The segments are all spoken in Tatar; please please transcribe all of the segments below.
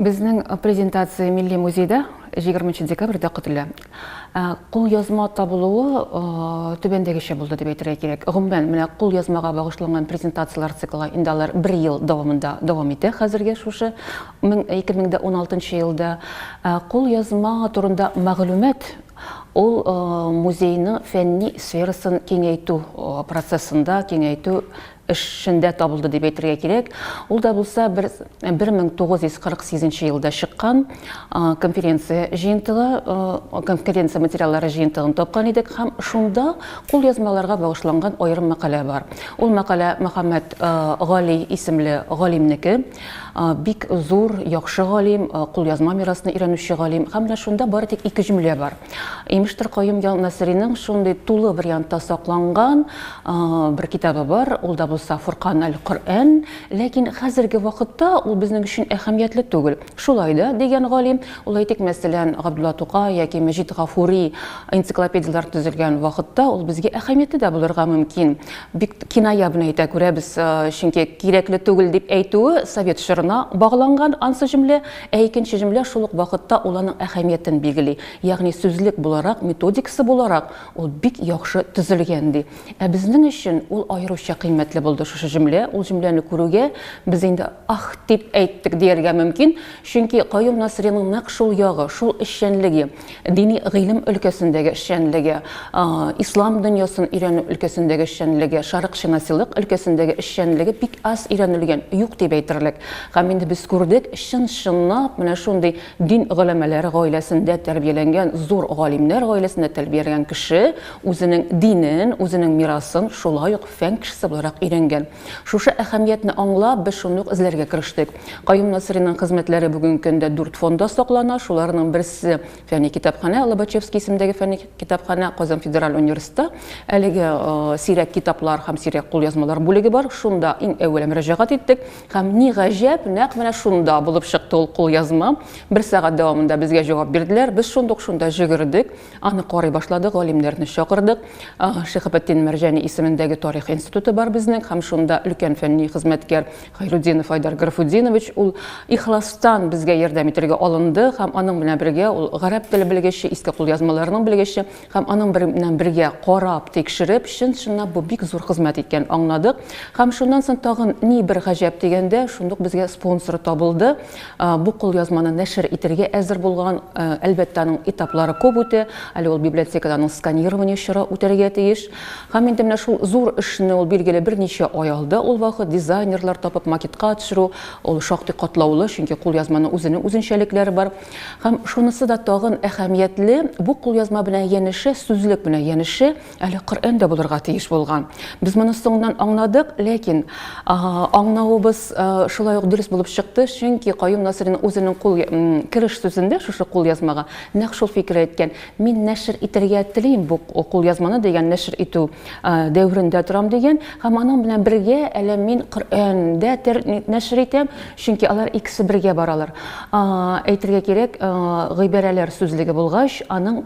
Безнең презентация Милли музейда 20 декабрьдә көтелә. Кулъязма табылуы түбәндәгечә булды дип әйтергә кирәк. Гомумән, менә кулъязмага багышланган презентацияләр циклы инде алар бер ел дәвамында дәвам итә хәзерге шушы 2016 елда. Кулъязма турында мәгълүмат ул музейның фәнни сферасын киңәйтү процессында, киңәйтү эшендә табылды дип әйтергә кирәк. Ул да булса бер 1948 нче елда чыккан конференция җыентыгы, конференция материаллары җыентыгын тапкан идек һәм шунда кулъязмаларга багышланган аерым мәкалә бар. Ул мәкалә Мөхәммәт Гали исемле галимнеке. Бик зур, яхшы галим, кулъязма мирасны өйрәнүче галим. Һәм менә шунда бары тик ике җөмлә бар. Имештер Каюм Ял Насриның шундый тулы вариантта сакланган бер китабы бар, ул да булса Фуркан аль-Коръән, ләкин хәзерге вакытта ул безнең өчен әһәмиятле түгел. Шулай да, дигән галим, ул әйтик, мәсәлән, Габдулла Тукай яки Мәҗит Гафури энциклопедияләр төзелгән вакытта ул безгә әһәмиятле дә булырга мөмкин. Бик киная белән әйтә, күрәбез, чөнки кирәкле түгел дип әйтүе совет чорына багланган ансы җөмлә, ә икенче җөмлә шул ук вакытта ул аның әһәмиятен билгели, ягъни сүзлек буларак, методикасы буларак ул бик яхшы төзелгән, ди. Ә безнең өчен ул аеруча кыйммәтле булды шушы җөмлә, ул җөмләне күрүгә, без инде Ах! дип әйттек дияргә мөмкин, чөнки Каюм Насыйриның нәкъ шул ягы, шул эшчәнлеге, дини гыйлем өлкәсендәге эшчәнлеге, ислам дөньясын өйрәнү өлкәсендәге эшчәнлеге, шәрыкчынасилык өлкәсендәге эшчәнлеге бик аз өйрәнелгән, юк дип әйтерлек. Һәм инде без күрдек, чын-чынлап менә шундый дин голәмәләре гаиләсендә тәрбияләнгән, зур галимнәр гаиләсендә тәрбияләнгән кеше үзенең динен, үзенең мирасын шулай ук фән кешесе буларак өйрәнгән. Шушы әһәмиятне аңлап, без шуны ук эзләргә керештек. Каюм Насыйриның хезмәтләре бүгенге көндә дүрт фонда саклана, шуларның берсе, фәнни китапханә, Лобачевский исемендәге фәнни китапханә, Казан федераль университетта әлеге сирәк китаплар һәм сирәк кулъязмалар бүлеге бар, шунда иң әүвәлә мөрәҗәгать иттек һәм, ни гаҗәп, нәкъ менә шунда булып чыкты ул кулъязма. Бер сәгать дәвамында безгә җавап бирделәр, без шундук шунда җөгердек. Аны карый башлады, галимнәрне чакырдык. Шихабетдин Мәрҗәни исемендәге тарих институты бар безнең, һәм шунда өлкән фәнни хезмәткәр Хайрудинов Айдар Графудинович ул ихластан безгә ярдәм итәргә алынды һәм аның белән бергә ул гарәп теле белгече, иске кулъязмаларның белгече һәм аның белән бергә карап, тикшереп, чын-чынлап бу бик зур хезмәт икән аңладык. Һәм шуннан соң тагын ни бер гаҗәп дигәндә, шундук безгә спонсор табылды. Бу кулъязманы нәшер итергә әзер булган, әлбәттә, аның этаплары күп үтә. Әле ул библиотекада аның сканирование чоры үтәргә тиеш. Һәм инде менә шул зур эшне ул, билгеле, берничә ай алды. Ул вакыт дизайнерлар табып, макетка төшерү, ул шактый катлаулы, чөнки кулъязманың үзенең үзенчәлекләре бар. Һәм шунысы да тагын әһәмиятле, бу кулъязма белән янәшә, сүзлек белән янәшә, Әле Коръән дә булырга тиеш булган. Без моны соңыннан аңладык, ләкин аңлавыбыз шулай ук дөрес булып чыкты, чөнки Каюм Насырин үзенең кул кереш сүзендә шушы кул язмага нәкъ шул фикер әйткән. Мин нәшер итәргә телим бу кул язманы дигән нәшер итү дәверендә торам дигән һәм аның белән бергә әле мин Коръәндә нәшер итәм, Чөнки алар икесе бергә баралар. Әйтергә кирәк, гыйбарәләр сүзлеге булгач, аның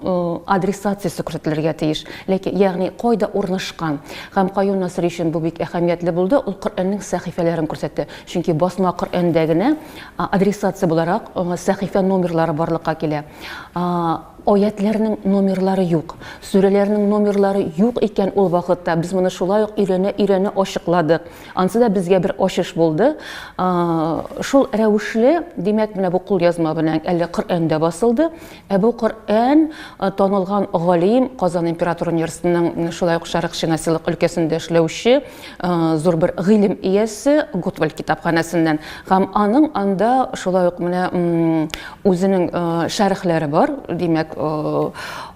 адресациясе күрсәтелергә тиеш. Ләкин, ягъни кайда урнашкан? Һәм Каюм Насыйри өчен бу бик әһәмиятле булды, ул Коръәннең сәхифәләрен күрсәтте. Чөнки басма Коръәндә генә адресация буларак сәхифә номерлары барлыкка килә. Аятьләрнең номерлары юк. Сүрәләрнең номерлары юк икән ул вакытта, без моны шулай ук өйрәнә-өйрәнә ачыкладык. Ансы да безгә бер ачыш булды. Шул рәвешле, димәк, менә бу кулъязма белән әле Коръән дә басылды. Ә бу Коръән танылган галим, Казан император университетының шулай ук Шәрык шинасилык өлкәсендә эшләүче зур бер гыйлем иясе Готвальд китапханәсеннән һәм аның анда шулай ук менә үзенең шәрехләре бар, димәк,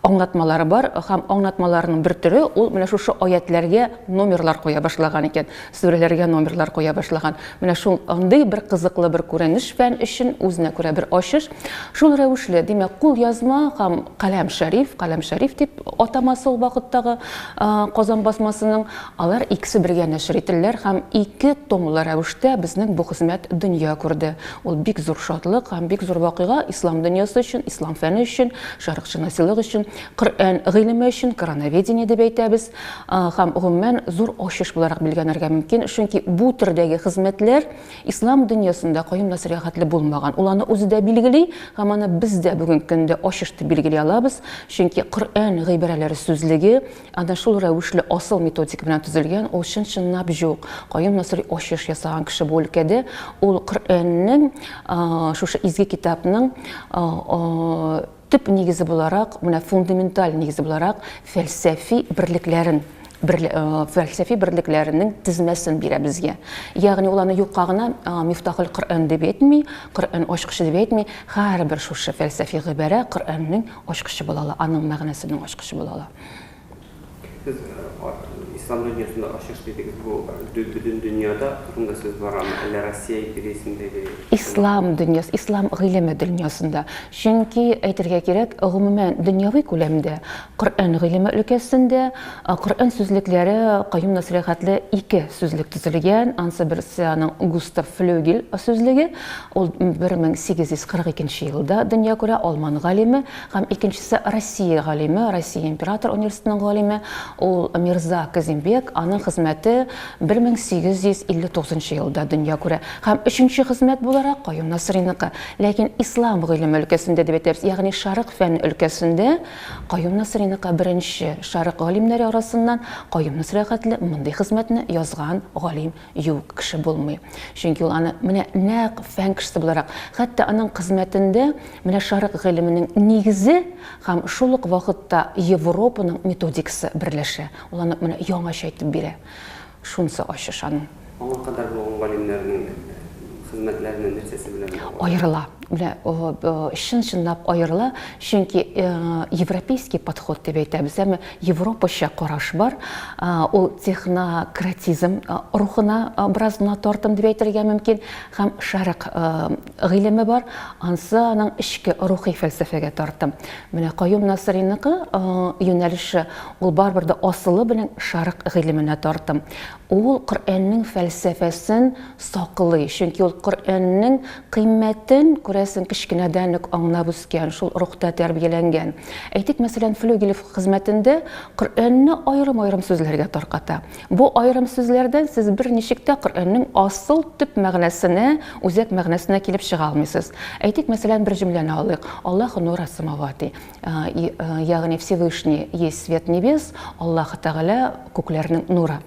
аңлатмалары бар һәм аңлатмаларының бер төре ул менә шушы аятләргә номерлар куя башлаган икән, сүрәләргә номерлар куя башлаган. Менә шул андый бер кызыклы бер күренеш фән өчен үзенә күрә бер ачыш. Шул рәвешле, димәк, кул язма һәм каләм шәриф, каләм шәриф дип атамасы ул вакыттагы Казан басмасының, алар икесе бергә нәшер ителләр һәм ике томлы рәвештә безнең бу хезмәт дөнья күрде. Ул бик зур шатлык һәм бик зур вакыйга ислам дөньясы өчен, ислам фәне өчен, шәрыкчынасилык өчен, Коръән гыйлеме өчен, корановедение дип әйтәбез. һәм, гомумән, зур ачыш буларак билгәнәргә мөмкин, чөнки бу төрдәге хезмәтләр ислам дөньясында каюм нәсыйгатьле булмаган. Ул аны үзе дә билгели һәм аны без дә бүгенге көндә ачыш дип билгели алабыз, чөнки Коръән гыйбарәләре сүзлеге әнә шул рәвешле асыл методика белән төзелгән, ул чын-чынлап җук. Каюм Насыйри ачыш ясаган кеше бу өлкәдә, ул Коръәннең, шушы изге китапның, Төп нигезе буларак, менә фундаменталь нигезе буларак фәлсәфи берлекләрен фәлсәфи берлекләренең тезмәсен бирә безгә. Ягъни ул аны юкка гына Мифтахул Коръән дип әйтми, Коръән ачкычы дип әйтми, һәрбер шушы фәлсәфи гыйбарә Коръәннең ачкычы була ала, аның мәгънәсенең ачкычы була ала. Сез Ислам дөньясында ачыш дидегез, бу бөтен дөньяда турында сүз барамы, әллә Россия империясендәге? Ислам дөньясы, Ислам гыйлеме дөньясында. Чөнки, әйтергә кирәк, гомумән дөньяви күләмдә Коръән гыйлеме өлкәсендә Коръән сүзлекләре каюм нәсыйхәтле ике сүзлек төзелгән, ансы берсе аның Густав Флёгель сүзлеге, ул 1842 елда дөнья күрә, алман галиме, Һәм икенчесе Россия галиме, Россия император университетының галиме, ул Мирза Казимбек, аның хезмәте 1859 елда дөнья күрә. Һәм өченче хезмәт буларак Каюм Насыйриныкы. Ләкин ислам гыйлеме өлкәсендә дип әйтәбез, ягъни Шәрык фән өлкәсендә Каюм Насыйриныкы беренче Шәрык галимнәре арасыннан Каюм Насыйри хәтле мондый хезмәтне язган галим Юк, кеше булмый. Чөнки ул аны менә нәкъ фән кешесе буларак, хәтта аның хезмәтендә менә шәрык гыйлеменең нигезе һәм шул ук вакытта Европаның методикасы берләшә. Ул аны менә яңача итеп бирә. Шунысы ачыш аның. Аңа кадәр булган галимнәрнең хезмәтләреннән нәрсәсе белән баглы? Аерыла. Менә чын-чынлап аерыла, чөнки европейский подход дип әйтәбез, әмма Европача караш бар, ул технократизм рухына бераз гына тартым дип әйтергә мөмкин, һәм Шәрык гыйлеме бар, ансы аның эчке рухи фәлсәфәгә тартым. Менә Каюм Насыйриныкы юнәлеше, ул барыбер дә асылы белән Шәрык гыйлеменә тартым. Ул Коръәннең фәлсәфәсен Саклый, чөнки ул Коръәннең кыйммәтен, күрәсең, кечкенәдән үк аңлап үскән, шул рухта тәрбияләнгән. Әйтик, мәсәлән, Флюгелев хезмәтендә Коръәнне аерым-аерым сүзләргә тарката. Бу аерым сүзләрдән сез берничек тә Коръәннең асыл төп мәгънәсенә, үзәк мәгънәсенә килеп чыга алмыйсыз. Әйтик, мәсәлән, бер җөмләне алыйк, Аллаһу нура сәмавати. А, и, а, ягъни Всевышний есть свет небес, Аллаһ Тәгалә күкләрнең нуры.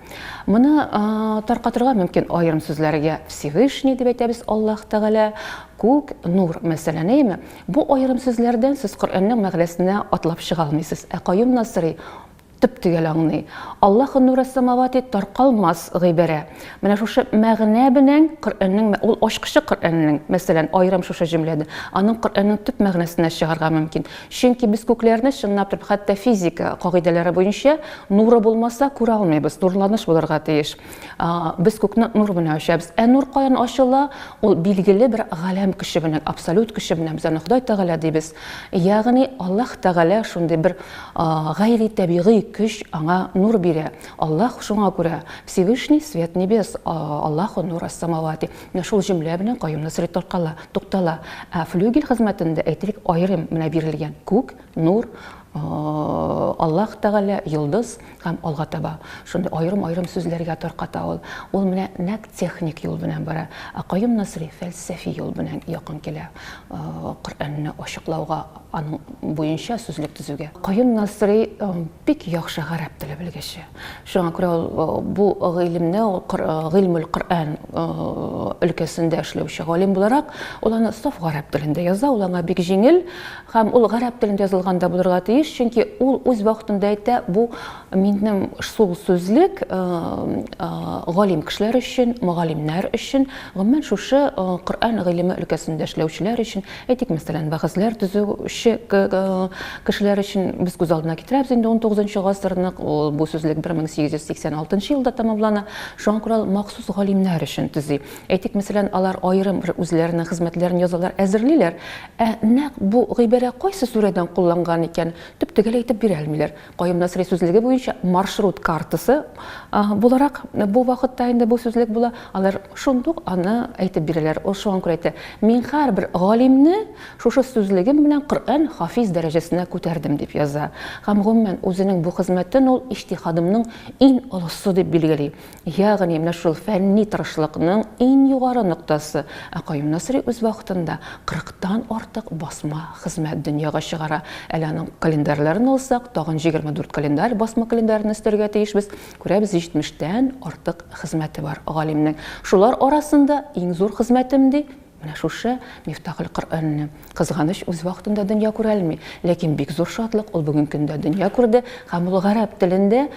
Моны а, таркатырга мөмкин аерым сүзләргә Всевышний дип әйтәбез Аллаһ Тәгалә, күк, нур, мәсәлән, әйме? Бу аерым сүзләрдән сез Коръәннең мәгънәсенә атлап чыга алмыйсыз. Ә Каюм Насыри Төп-төгәл аңный. Аллаһу нурэс-сэмавати таркалмас гыйбарә. Менә шушы мәгънә белән Коръәннең, ул ачкычы Коръәннең, мәсәлән, аерым шушы җөмләне, аның Коръәннең төп мәгънәсенә чыгарга мөмкин. Чөнки без күкләрне, чынлап торып, хәтта физика кагыйдәләре буенча, нуры булмаса, күрә алмыйбыз, нурланыш булырга тиеш. Без күкне нур белән ачабыз. Ә нур каян ачыла? Ул билгеле бер галәм көче белән, абсолют көче белән без аны Ходай Тәгалә дибез. Ягъни Аллаһ Тәгалә шундый бер гайри табигый көч аңа нур бирә. Аллаһ шуңа күрә Всевышний свет небес, Аллаһу нур ас-самавати. Менә шул җөмлә белән Каюм Насри таркала, туктала. Ә флюгель хезмәтендә әйтик, аерым менә бирелгән күк, нур, Аллаһ Тәгалә, йолдыз һәм алга таба. Шундый аерым-аерым сүзләргә тарката ул. Ул менә нәкъ техник юл белән бара. Ә Каюм Насри фәлсәфи юл белән якын килә Коръәнне ачыклауга, аның буенча сүзлек төзүгә. Каюм Насри бик яхшы гарәп теле белгече. Шуңа күрә ул бу гыйлемне, Гыйльмул Коръән өлкәсендә эшләүче галим буларак, ул аны саф гарәп телендә яза, ул аңа бик җиңел, Һәм ул гарәп телендә язылган да булырга тиеш, чөнки ул үз вакытында әйтә, бу минем шул сүзлек галим кешеләр өчен, мөгаллимнәр өчен, гомумән шушы Коръән гыйлеме өлкәсендә эшләүчеләр өчен, әйтик, мәсәлән, вәгазьләр төзүче кешеләр өчен без күз алдына китерәбез инде унтугызынчы гасырны, ул бу сүзлек 1886 елда тәмамлана, шуңа күрә ул махсус галимнәр өчен төзи. Әйтик, мәсәлән, алар аерым бер үзләренең хезмәтләрен язалар, әзерлиләр, Ә нәкъ бу гыйбарә кайсы сүрәдән кулланган икән, төп-төгәл әйтеп бирә алмыйлар. Каюм Насыйри сүзлеге буенча маршрут картасы буларак бу вакытта инде бу сүзлек була, алар шундук аны әйтеп бирәләр. Ул шуңа күрә әйтә, Мин һәрбер галимне шушы сүзлегем белән Коръән хафиз дәрәҗәсенә күтәрдем, дип яза. Һәм, гомумән, үзенең бу хезмәтен ул иҗтиһадымның иң олысы дип билгели. Ягъни, менә шул фәнни тырышлыкның иң югары ноктасы. Ә Каюм Насыйри үз вакытында кырыктан артык басма хезмәт дөньяга чыгара. Әле аның календарьләрен алсак, тагын җигерме дүрт календарь, басма календарен өстәргә тиешбез. Күрәбез, җитмештән артык хезмәте бар галимнең. Шулар арасында иң зур хезмәтем, ди, Менә шушы Мифтахелкөръәнне кызганыч үз вакытында дөнья күрәлми. Ләкин бик зур шатлык, ул бүгенге көндә дөнья күрде һәм ул гарәп телендә.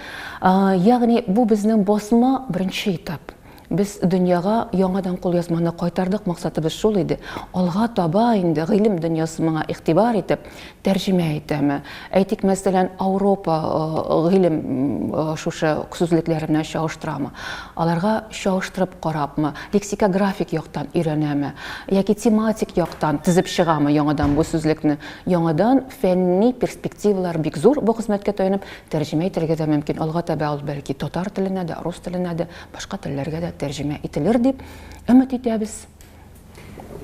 Ягъни бу безнең басма беренче этап. Без дөньяга яңадан кулъязманы кайтардык, максатыбыз шул иде. Алга таба инде гыйлем дөньясы моңа игътибар итеп, тәрҗемә итәме? Әйтик, мәсәлән, Ауропа гыйлем шушы сүзлекләр белән чагыштырамы? Аларга чагыштырып карапмы? Лексикографик яктан өйрәнәме? Яки тематик яктан тезеп чыгамы яңадан бу сүзлекне? Яңадан фәнни перспективалар бик зур бу хезмәткә таянып тәрҗемә итәргә дә мөмкин. Алга таба ул бәлки татар теленә дә, рус теленә дә, башка телләргә дә тәрҗемә ителер дип өмет итәбез.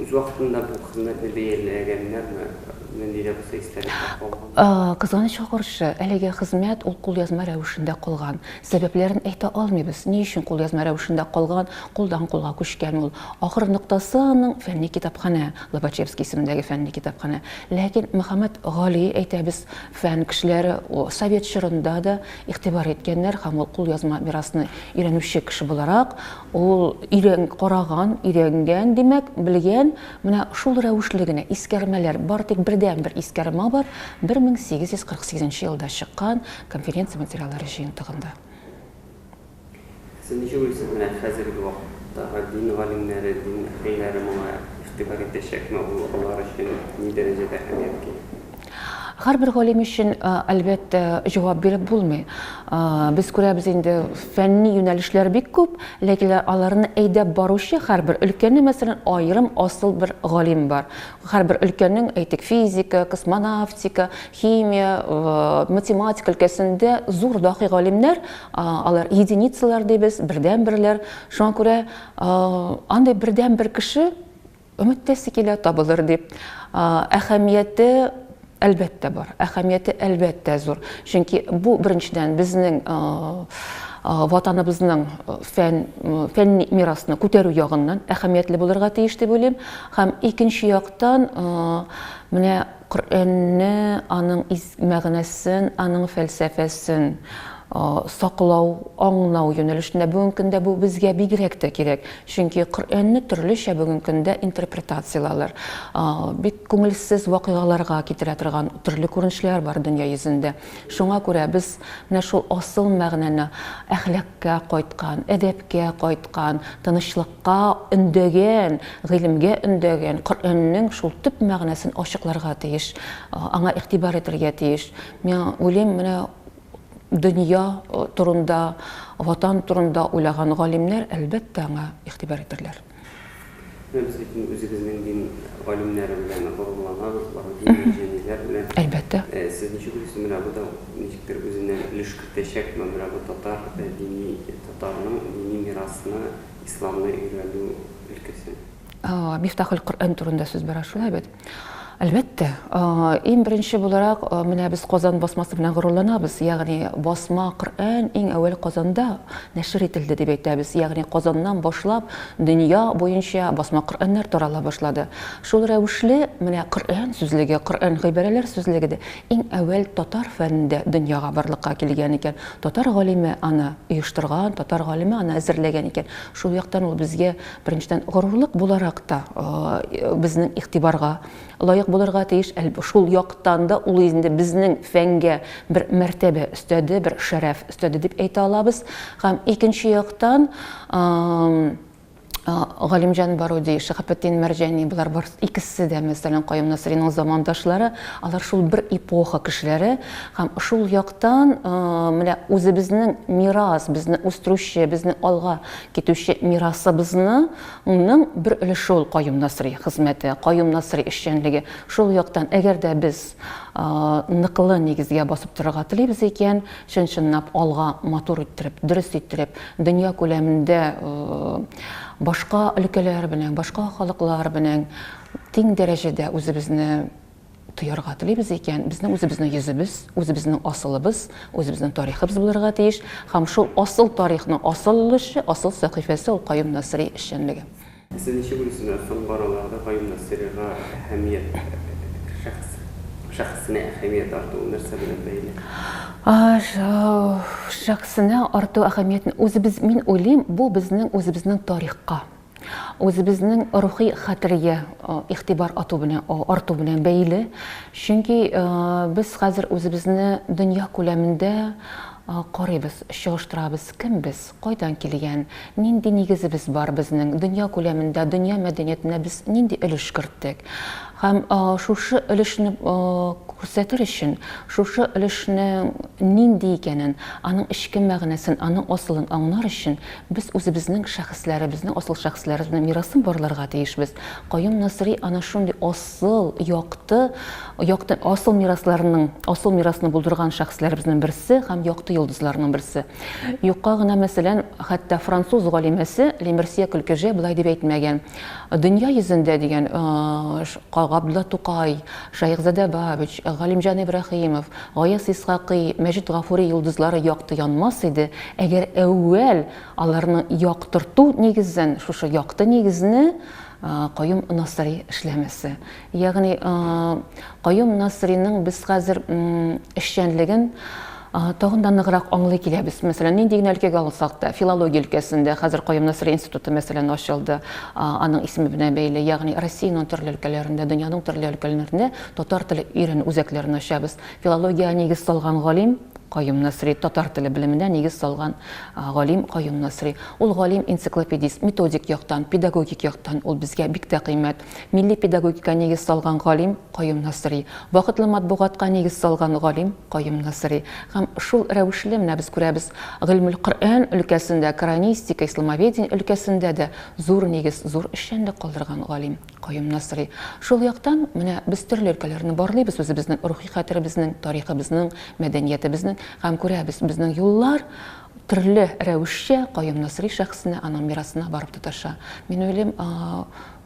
Үз вакытында бу хезмәтне бәяләгәннәрме? Нинди дә булса истәлеккә калган? Кызганычка каршы, әлеге хезмәт ул кулъязма рәвешендә калган. Сәбәпләрен әйтә алмыйбыз, ни өчен кулъязма рәвешендә калган, кулдан-кулга күчкән ул. Ахыр ноктасы аның фәнни китапханә, Лобачевский исемендәге фәнни китапханә. Ләкин Мөхәммәт Гали, әйтәбез, фән кешеләре совет чорында да игътибар иткәннәр һәм ул кулъязма мирасны өйрәнүче кеше буларак, Ул өйрән, караган, өйрәнгән, димәк, белгән. Менә шул рәвешле генә искәрмәләр бар, тик бердәнбер искәрмә бар, 1848 нче елда чыккан конференция материаллары җыентыгында. Сез ничек уйлыйсыз, менә хәзерге вакыттагы дин галимнәре, дин әһелләре моңа игътибар итәчәкме, ул алар өчен ни дәрәҗәдә әһәмияткә ия? Һәрбер галим өчен, әлбәттә, җавап биреп булмый. Без күрәбез инде, фәнни юнәлешләр бик күп, ләкин аларны әйдәп баручы һәрбер өлкәне, мәсәлән, аерым асыл бер галим бар. Һәрбер өлкәнең, әйтик, физика, космонавтика, химия, математика өлкәсендә зур дакый галимнәр, алар единицалар дибез, бердәнберләр. Шуңа күрә андый бердәнбер кеше Өметләсе килә, табылыр дип. Әһәмияте, әлбәттә, бар. Әһәмияте, әлбәттә, зур. Чөнки бу, беренчедән, безнең Ватаныбызның фән, фәнни мирасны күтәрү ягыннан әһәмиятле булырга тиеш дип уйлыйм. Һәм икенче яктан, менә Коръәнне, аның из мәгънәсен, аның фәлсәфәсен саклау, аңлау юнәлешендә бүгенге көндә бу безгә бигрәк тә кирәк. Чөнки Коръәнне төрлечә бүгенге көндә интерпретацияләләр. Бик күңелсез вакыйгаларга китерә торган төрле күренешләр бар дөнья йөзендә. Шуңа күрә без менә шул асыл мәгънәне, әхлакка кайткан, әдәпкә кайткан, тынычлыкка. Ка өндәгән, гыйлемгә өндәгән, Коръәннең шул төп мәгънәсен ачыкларга тиеш, аңа игътибар итәргә тиеш. Миңа уйлыйм, менә дөнья турында, Ватан турында уйлаган галимнәр, әлбәттә, аңа игътибар итәрләр. Менә без бит инде үзебезнең дин галимнәре белән горурланабыз, бары дини җәниләр белән. Әлбәттә. Сез ничек уйлыйсыз, менә бу да ничектер үзеннән өлеш кертәчәкме, менә бу татар дини, татарның дини мирасына? исламны өйрәнү өлкәсе. Мифтахул-Коръән турында сүз бара шулай бит? Әлбәттә. Иң беренче буларак, менә без Казан басмасы белән горурланабыз. Ягъни басма Коръән иң әүвәл Казанда нәшер ителде дип әйтәбез. Ягъни Казаннан башлап дөнья буенча басма Коръәннәр тарала башлады. Шул рәвешле, менә Коръән сүзлеге, Коръән гыйбарәләр сүзлеге дә Иң әүвәл татар фәнендә дөньяга барлыкка килгән икән. Татар галиме аны оештырган, татар галиме аны әзерләгән икән. Шул яктан ул безгә, беренчедән, горурлык буларак та безнең игътибарга лаек булырга тиеш. Шул яктан да ул инде безнең фәнгә бер мәртәбә өстәде, бер шәрәф өстәде дип әйтә алабыз. Һәм икенче яктан, Галимҗан Баруди, Шиһапетдин Мәрҗани, болар бар икесе дә, мәсәлән, Каюм Насыйриның замандашлары, алар шул бер эпоха кешеләре һәм шул яктан менә үзебезнең мирас, безне үстерүче, безне алга китүче мирасыбызны ның бер өлеше ул Каюм Насыйри хезмәте, Каюм Насыйри эшчәнлеге. Шул яктан, әгәр дә без ныклы нигезгә басып торырга телибез икән, чын-чынлап алга матур иттереп, дөрес иттереп, дөнья күләмендә башка өлкәләр белән, башка халыклар белән тиң дәрәҗәдә үзебезне тоярга телибез икән, безнең үзебезнең йөзебез, үзебезнең асылыбыз, үзебезнең тарихыбыз булырга тиеш һәм шул асыл тарихның асыл өлеше, асыл сәхифәсе ул Каюм Насыйри эшчәнлеге. Сез ничек уйлыйсызмы, соң баруларда каюмнар сырыга әһәмият, шәхес, шәхесенә әһәмият артуы нәрсә белән бәйле? Шәхесенә арту әһәмиятен үзебез, мин уйлыйм, бу безнең үзебезнең тарихка, үзебезнең рухи хәтергә игътибар ату белән, арту белән бәйле. Чөнки без хәзер үзебезне дөнья күләмендә карыйбыз, чагыштырабыз, кем без? Кайдан килгән, нинди нигезебез бар безнең, дөнья күләмендә, дөнья мәдәниятенә без нинди өлеш керттек? Һәм шушы өлешне күрсәтер өчен, шушы өлешнең нинди икәнен, аның эчке мәгънәсен, аның асылын аңлар өчен, без үзебезнең шәхесләребезнең, асыл шәхесләребезнең мирасын барларга тиешбез. Каюм Насыйри ана шундый асыл, якты, якты, асыл мирасларның, асыл мирасны булдырган шәхесләребезнең берсе һәм якты йолдызларның берсе. Юкка гына, мәсәлән, хәтта француз галимәсе Лемерсье Көлкеже болай дип әйтмәгән. Дөнья йөзендә дигән Габдулла Тукай, Шәехзадә Бабич, Галимҗан Ибраһимов, Гаяз Исхакый, Мәҗит Гафури йолдызлары якты янмас иде, әгәр әүвәл аларны яктырту нигезен, шушы якты нигезне Каюм Насыйри эшләмәсә. Ягъни Каюм Насриның без хәзер эшчәнлеген тагын да ныграк аңлый киләбез. Мәсәлән, нинди генә өлкәгә алсак та, филология өлкәсендә хәзер Каюм Насри институты мәсәлән ачылды, аның исеме белән бәйле. Ягъни Россиянең төрле өлкәләрендә, дөньяның төрле өлкәләрендә татар теле өйрәнү үзәкләрен ачабыз. Филологиягә нигез салган галим Каюм Насри, татар теле белеменә нигез салган галим Каюм Насри. Ул галим-энциклопедист, методик яктан, педагогик яктан ул безгә бик тә кыйммәт. Милли педагогика нигез салган галим Каюм Насыйри, вакытлы матбугатка нигез салган галим Каюм Насыйри. Һәм шул рәвешле, менә без күрәбез, Гыйльмүл Коръән өлкәсендә, коранистика, исламоведение өлкәсендә дә зур нигез, зур эшчәнлек калдырган галим Каюм Насыйри. Шул яктан, менә без төрле өлкәләрне барлыйбыз үзебезнең рухи хәтеребезнең, тарихыбызның, мәдәниятебезнең һәм күрәбез, безнең юллар, төрле рәвешчә Каюм Насыйри шәхесенә, аның мирасына барып тоташа. Мин уйлыйм,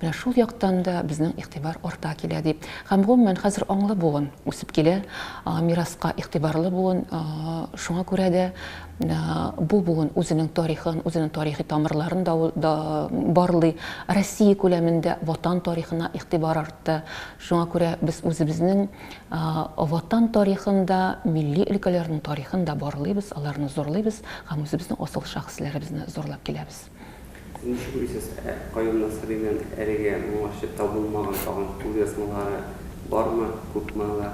менә шул яктан да безнең игътибар арта килә дип. Һәм, гомумән, хәзер аңлы буын үсеп килә, мираска игътибарлы буын. Шуңа күрә дә бу буын үзенең тарихын, үзенең тарихи тамырларын да барлый. Россия күләмендә Ватан тарихына игътибар артты. Шуңа күрә без үзебезнең Ватан тарихын да, милли өлкәләрнең тарихын да барлыйбыз, аларны зурлыйбыз һәм үзебезнең асыл шәхесләребезне зурлап киләбез. Ничек уйлыйсыз, ә Каюм Насыйриның әлегә моңарчы табылмаган тагын кулъязмалары бармы, күпме алар?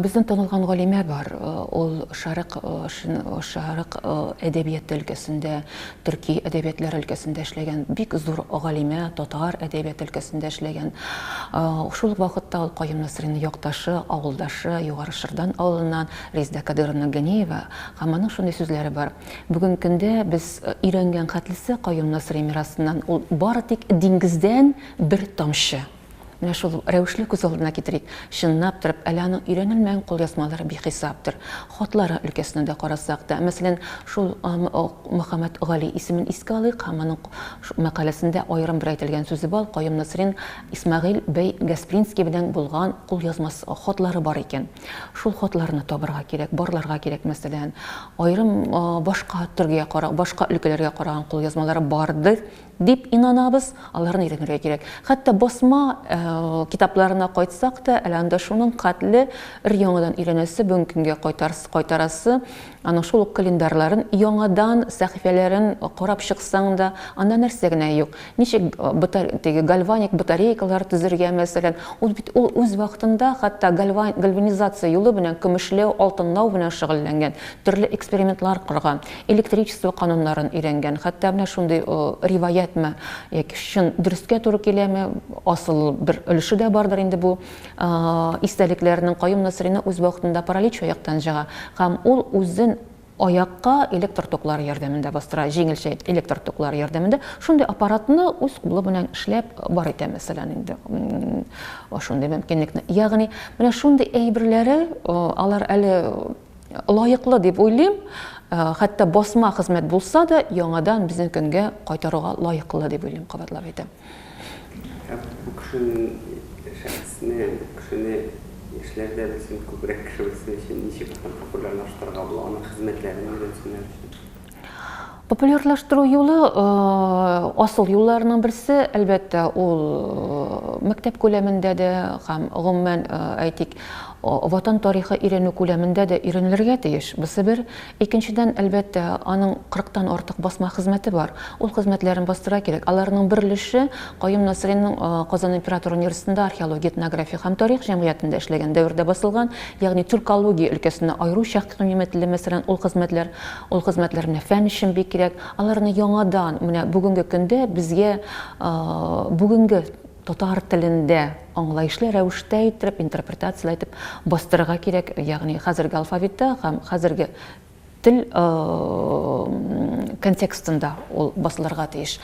Безнең танылган галимә бар, ул Шәрык, Шәрык әдәбияты өлкәсендә төрки әдәбиятләре өлкәсендә эшләгән бик зур галимә, татар әдәбияты өлкәсендә эшләгән. Шул ук вакытта ул Каюм Насыйриның якташы, авылдашы, Югары Шырдан авылыннан Резда Кадыйровна Ганиева. Һәм аның шундый сүзләре бар, Бүген көндә без өйрәнгән хәтлесе Каюм Насыйри мирасыннан, ул бары тик диңгездән бер тамчы. Менә шул рәвешне күз алдына китерик. Чынлап торып, әле аның өйрәнелмәгән кулъязмалары бихисаптыр. Хатлары өлкәсенә дә карасак та, мәсәлән, шул Мөхәммәтгали исемен искә алыйк һәм аның мәкаләсендә аерым бер әйтелгән сүзе бар, Каюм Насыйрин Исмәгыйль бәй Гаспринский белән булган кулъязмасы, хатлары бар икән. Шул хатларны табарга кирәк, барларга кирәк, мәсәлән. Аерым башка төргә, башка өлкәләргә караган кулъязмалары бардыр. дип инанабыз, аларны өйрәнергә кирәк. Хәтта басма китапларына кайтсак та, әле анда шуның катле өр-яңадан өйрәнәсе, бүгенге көнгә кайтарасы, аның шул ук календарьларын яңадан сәхифәләрен карап чыксаң да, анда нәрсә генә юк. Ничек теге гальваник батарейкалар төзергә, мәсәлән, ул бит ул үз вакытында хәтта гальванизация юлы белән көмешләү, алтынлау белән шөгыльләнгән, төрле экспериментлар корган. Электричество кануннарын өйрәнгән. Хәтта менә шундый риваятьме, яки чын дөрескә туры киләме, асыл бер өлеше дә бардыр инде бу истәлекләрнең, Каюм Насыйриның үз вакытында паралич аяктан җыга һәм ул үзен аякка электр токлары ярдәмендә бастыра, җиңелчә электр токлары ярдәмендә. Шундый аппаратны үз кулы белән эшләп бар итә, мәсәлән, инде шундый мөмкинлекне. Ягъни менә шундый әйберләре алар әле Лаеклы дип уйлыйм, хәтта басма хезмәт булса да, яңадан безнең көнгә кайтаруга лаеклы дип уйлыйм, кабатлап әйтәм. Ә бу кешенең шәхесне, бу кешене яшьләр дә белсен, күбрәк кеше белсен өчен ничек популярлаштырырга була, аның хезмәтләрен өйрәнсеннәр өчен? Популярлаштыру юлы асыл юлларының берсе, әлбәттә, ул мәктәп күләмендә дә һәм гомумән, әйтик, ватан тарихы өйрәнү күләмендә дә өйрәнелергә тиеш. Бусы бер. Икенчедән, әлбәттә, аның 40-тан артык басма хезмәте бар. Ул хезмәтләрен бастыра кирәк. Аларның бер өлеше Каюм Насыйриның Казан император университетында археология, этнография һәм тарих җәмгыятендә эшләгән дәвердә басылган, ягъни тюркология өлкәсенә аеруча кыйммәтле, мәсәлән, ул хезмәтләр Ул хезмәтләр менә фән өчен бик кирәк. Аларны яңадан менә бүгенге көндә безгә бүгенге татар телендә аңлаешлы рәвештә иттереп, интерпретацияле итеп бастырырга кирәк. Ягъни хәзерге алфавитта һәм хәзерге тел контекстында ул басылырга тиеш.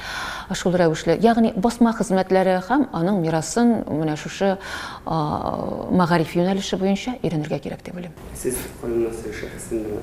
Шул рәвешле, ягъни басма хезмәтләре һәм аның мирасын менә шушы мәгариф юнәлеше буенча өйрәнергә кирәк дип уйлыйм. Сез Кайнар Сер шәхесендә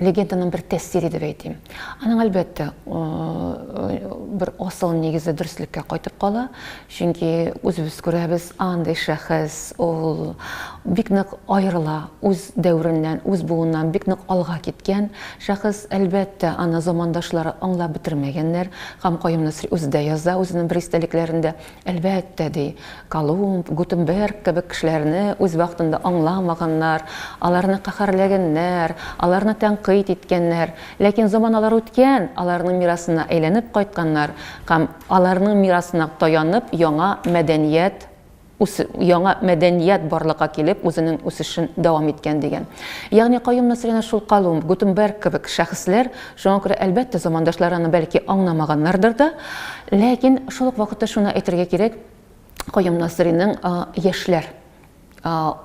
легенданың бер тәэсире дип әйтим. Аның әлбәттә бер асыл нигезе дөреслеккә кайтып кала, чөнки үзебез күрәбез, андый шәхес ул бик нык аерыла үз дәвереннән, үз буыннан бик нык алга киткән шәхес. Әлбәттә, аны замандашлары аңлап бетермәгәннәр. Һәм Каюм Насыйри үзе дә яза үзенең бер истәлекләрендә, Әлбәттә, ди, Колумб, Гутенберг кебек кешеләрне үз вакытында аңламаганнар, аларны каһәрләгәннәр, аларны тәнкыйть иткәннәр. Ләкин заманалар үткән, аларның мирасына әйләнеп кайтканнар һәм аларның мирасына таянып яңа мәдәният, яңа мәдәният барлыкка килеп, үзенең үсешен дәвам иткән, дигән. Ягъни Каюм Насыйри әнә шул Колумб, Гутенберг кебек шәхесләр Шуңа күрә, әлбәттә, замандашлары аны бәлки аңламаганнардыр да. Ләкин шул ук вакытта шуны әйтергә кирәк, Каюм Насыйриның яшьләр,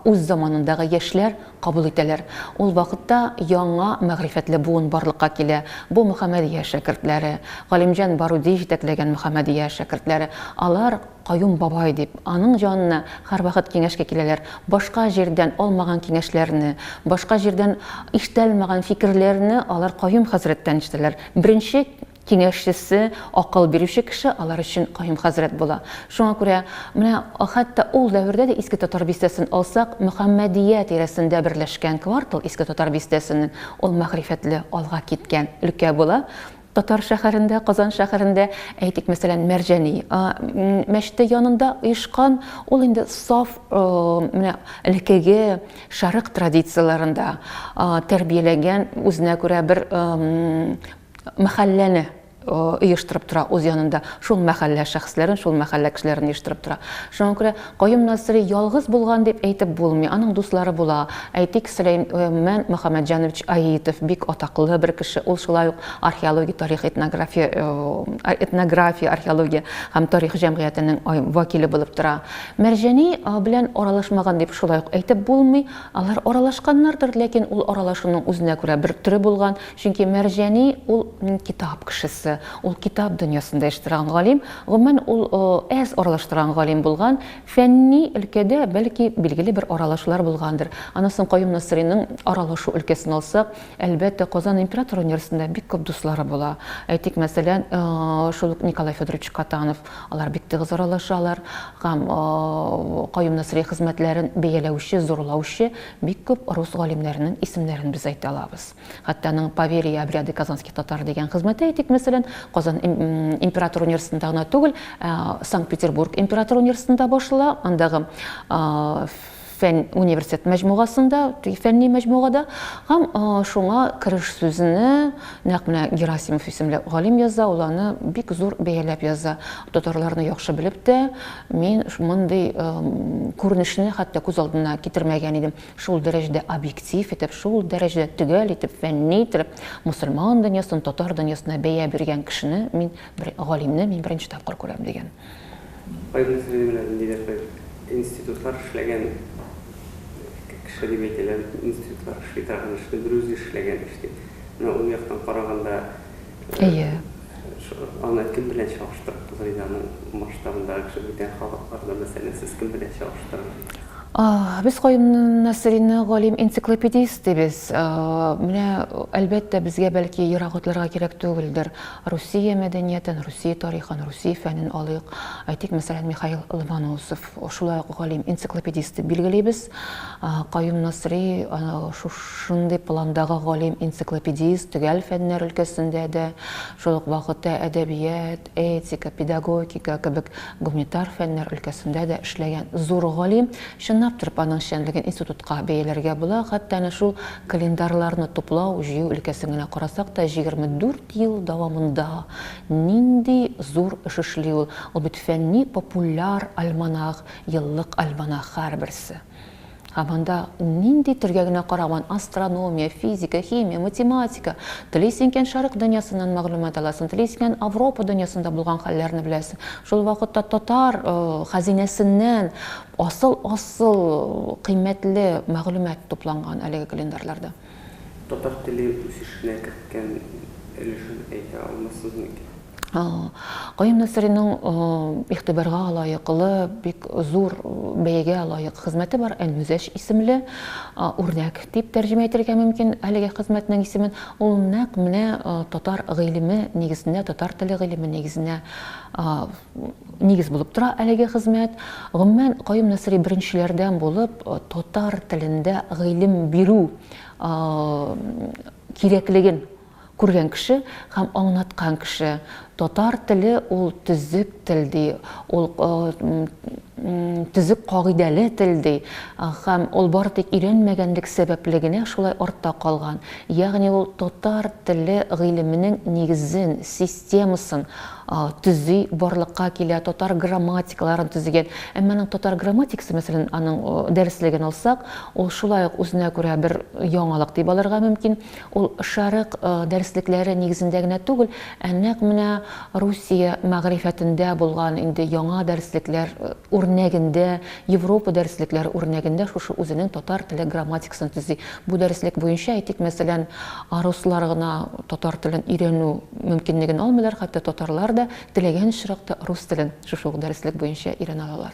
үз заманындагы яшьләр кабул итәләр. Ул вакытта яңа мәгърифәтле буын барлыкка килә. Бу Мөхәммәдия шәкертләре, Галимҗан Баруди җитәкләгән Мөхәммәдия шәкертләре. Алар Каюм бабай дип, аның янына һәрвакыт киңәшкә киләләр, башка җирдән алмаган киңәшләрне, башка җирдән ишетәлмәгән фикерләрне алар Каюм хәзрәттән ишетәләр. Беренче киңәшчесе, акыл бирүче кеше алар өчен Каюм хәзрәт була. Шуңа күрә менә хәтта ул дәвердә дә Иске Татар бистәсен алсак, Мөхәммәдия тирәсендә берләшкән квартал Иске Татар бистәсенең, ул мәгърифәтле, алга киткән өлкә була. Татар шәһәрендә, Казан шәһәрендә, әйтик, мәсәлән, Мәрҗани мәчете янында оешкан, ул инде саф менә элекеге шәрык традицияләрендә тәрбияләгән, үзенә күрә бер мәхәлләне оештырып тора үз янында, шул мәхәллә шәхесләрен, шул мәхәллә кешеләрен оештырып тора. Шуңа күрә Каюм Насыйри ялгыз булган дип әйтеп булмый, аның дуслары була. Әйтик, Сөләймән Мөхәммәтҗанович Аитов, бик атаклы бер кеше, ул шулай ук археология, тарих, этнография, этнография, археология һәм тарих җәмгыятенең вәкиле булып тора. Мәрҗани белән аралашмаган дип шулай ук әйтеп булмый, алар аралашканнардыр, ләкин ул аралашуның үзенә күрә бер төре булган, Чөнки Мәрҗани ул китап кешесе, ул китап дөньясында яши торган галим, гомумән, ул әз аралаша торган галим булган, фәнни өлкәдә, бәлки, билгеле бер аралашулар булгандыр. Аннан соң Каюм Насыйриның аралашу өлкәсен алсак, әлбәттә, Казан император университетында бик күп дуслары була. Әйтик, мәсәлән, шул ук Николай Федорович Катанов, алар бик тыгыз аралашалар һәм Каюм Насыйри хезмәтләрен бәяләүче, зурлаучы бик күп рус галимнәренең исемнәрен без әйтә алабыз. Хәтта аның Поверье и обряды казанских татар дигән хезмәте, әйтик, мәсәлән, Казан император университетында гына түгел, ә, Санкт-Петербург император университетында башлана, андагы фән университет мәҗмугасында, фәнни мәҗмугада, һәм шуңа кереш сүзне нәкъ менә Герасимов исемле галим яза, ул аны бик зур бәяләп яза. Татарларны яхшы белеп тә, мин мондый күренешне хәтта күз алдына китермәгән идем. шул дәрәҗәдә объектив итеп, шул дәрәҗәдә төгәл итеп, фәнни итеп мөселман дөньясын татар дөньясына бәя биргән кешене мин, бер галимне мин беренче тапкыр күрәм, дигән. Кайбер сөйләмнәрдә ниндидер бер институтлар эшләгән кеше дип әйтәләр, институтлар эшли торган эшне берүзе эшләгән эш дип. Менә ул яктан караганда, Әйе. Аны кем белән чагыштырып булыр иде, аның масштабындагы кеше бүтән халыкларда, мәсәлән, сез кем белән чагыштырыр идегез? Без Каюмнан Насыйрины галим-энциклопедист дибез. Менә, әлбәттә, безгә бәлки ерак үтләргә кирәк түгелдер. Русия мәдәниятен, Русия тарихын, Русия фәнен алыйк. Әйтик, мәсәлән, Михаил Ломоносов. шулай ук галим энциклопедист дип билгелибез. Каюм Насри шушындый пландагы галим энциклопедист, төгәл фәннәр өлкәсендә дә, шул ук вакытта әдәбият, этика, педагогика кебек гуманитар фәннәр өлкәсендә дә эшләгән зур галим. Чынлап торып, аның эшчәнлеген институтка бәяләргә була. Хәтта әнә шул календарьларны туплау, җыю өлкәсен генә карасак та, 24 ел дәвамында Нинди зур эш эшли ул Лотфәнни популяр альманах, еллык альманах һәрберсе. Һәм анда нинди телгә генә караман, астрономия, физика, химия, математика, телисең икән Шәрык дөньясыннан мәгълүмат аласың, телисең икән Авропа дөньясында булган хәлләрне беләсең, шул вакытта татар хәзинәсеннән асыл-асыл кыйммәтле мәгълүмат тупланган әлеге календарьларда. Татар теле үсешенә керткән өлешен әйтә алмассыз микән? Каюм Насыйриның игътибарга лаеклы, бик зур бәягә лаек хезмәте бар, Әнмүзәҗ исемле үрнәк дип тәрҗемә итәргә мөмкин әлеге хезмәтнең исемен. Ул нәкъ менә татар гыйлеме нигезендә, татар теле гыйлеме нигезенә Нигез булып тора әлеге хезмәт. Гомумән, Каюм Насыйри беренчеләрдән булып татар телендә гыйлем бирү кирәклеген күргән кеше һәм аңлаткан кеше. Татар теле ул төзек тел ди, ул төзек кагыйдәле тел ди һәм ул бары тик өйрәнмәгәнлек сәбәпле генә шулай артта калган. Ягъни ул татар теле гыйлеменең нигезен, системасын төзи, барлыкка килә, татар грамматикаларын төзегән. Әмма аның татар грамматикасы, мәсәлән, аның дәреслеген алсак, ул шулай ук үзенә күрә бер яңалык дип алырга мөмкин. Ул шәрык дәреслекләре нигезендә генә түгел, ә нәкъ менә Русия мәгърифәтендә булган инде яңа дәреслекләр үрнәгендә, Европа дәреслекләре үрнәгендә шушы үзенең татар теле грамматикасы Синтези. Бу дәреслек буенча, әйтик, мәсәлән, руслар гына татар телен өйрәнү мөмкинлеген алмыйлар, хәтта татарлар да теләгән очракта рус телен шушы ук дәреслек буенча өйрәнә алалар.